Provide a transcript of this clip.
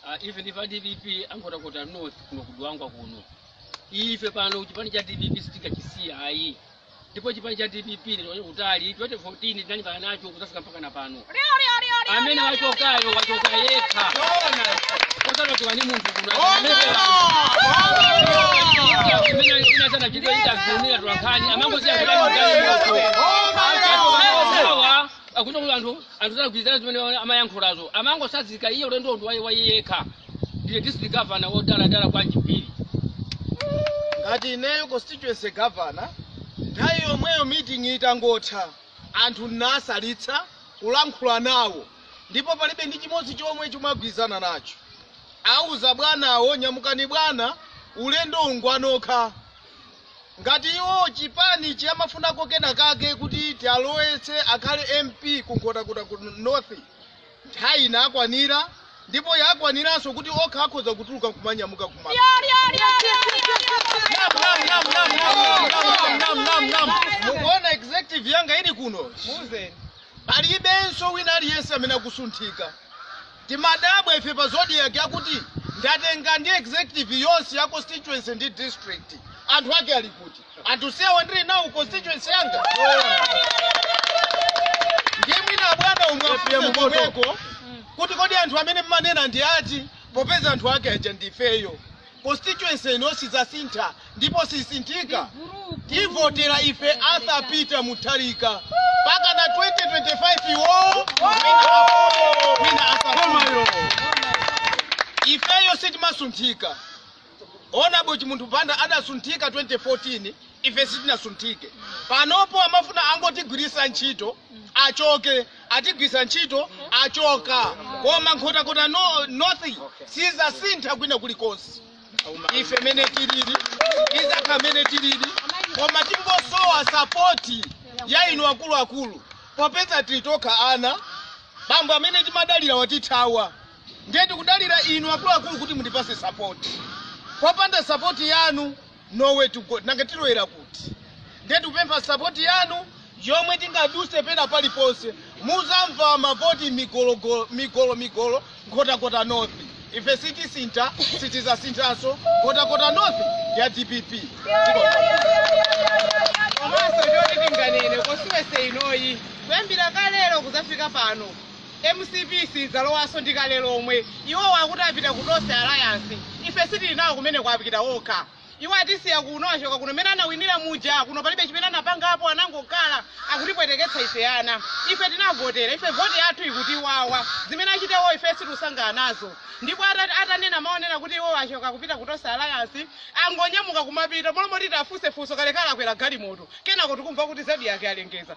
uh, even if a dpp nkhotakota north kuno ku dwangwa kuno ife pano chipani cha dpp sitikachisiya ayi ndipo chipani cha dpp ndatoka nacho kutali 2014 tinalimbana nacho kuzafika mpaka na pano amene wachokayo wachoka yekha osanachoka ndi munthu kuno amene inatana chito itazumira tulakhani amangoziya kulangaimoto awa akuno anthu anthu sakugwirizana zimene amayankhulazo amangotsanzika iye ulendo ndi wa iye yekha ndiye district governor wodaladala kwa chipiri ngati ineyo constituency governor nthawi yomweyo meeting itangotha anthu nasalitsa kulankhula nawo ndipo palibe ndi chimodzi chomwe chimene agwirizana nacho auza bwanawo nyamukani bwana ulendo ngwanokha ngati iwo chipani amafunako kena kake kuti chiwalowetse akhale mp ku nkhotakota ku north nthawi inakwanira ndipo yakwaniranso kuti okha akhoza kutuluka kumanyamuka koma mukuona executive yanga ili kuno palibenso wina aliyense amene akusunthika Timadabwa ife pa zodiak akuti ndatenga ndi executive yonse ya constituency ndi district. Anthu ake ali kuti? Anthu onsewa ndiri nawo constituency yanga. Ndiye mwina abwana muwafunse komweko kuti kodi anthu amene mmanena ndi ati popeza anthu ake aja ndifeyo. Constituency ino sidzasintha ndipo sisinthika. Tivotera ife Arthur Peter Mutharika mpaka na 2025 iwowo wina apo wina asafune. Ifeyo sitimasunthika. Ona boti Chimunthu Banda adasunthika 2014 ife sitinasunthike. Panopo amafuna angotigwiritsa ntchito achoke atigwiritsa ntchito achoka koma nkhotakota north sizasintha kwina kulikonse ife mene tilili tizakhala mene tilili koma tingosowa sapoti ya inu akuluakulu popeza tili tokha ana bambo amene timadalira watithawa ndiye tikudalira inu akuluakulu kuti mundipase sapoti popanda sapoti yanu nowhere to go nanga tilowera kuti ndiye tikupempha sapoti yanu yomwe tingaduse pena paliponse muzamva mavoti migolo migolo nkhotakota north ife sitisintha sitizasinthanso nkhotakota north ya dpp komanso choti tinganene constituency inoyi kuyambira kalero kuzafika pano Mcp sidzalowanso ndi kale lomwe. Iwowa akuti apita ku Tonse Alliance. Ife sitili nawo kumeneko apita okha. Iwo atisiya kuno achoka kuno mmene anawinira muja kuno palibe chimene anapangapo anangokhala akutipweteketsa ife ana. Ife tinavotera ife voti yathu ikutiwawa. Zimene achita iwo ife sitikusangalala nazo. Ndipo ata- atanena maonena kuti iwo achoka kupita ku Tonse Alliance angonyamuka kumapita m'malo moti tifunse funso kalekale akwera galimoto. Kenako tikumva kuti Zodiak alengeza.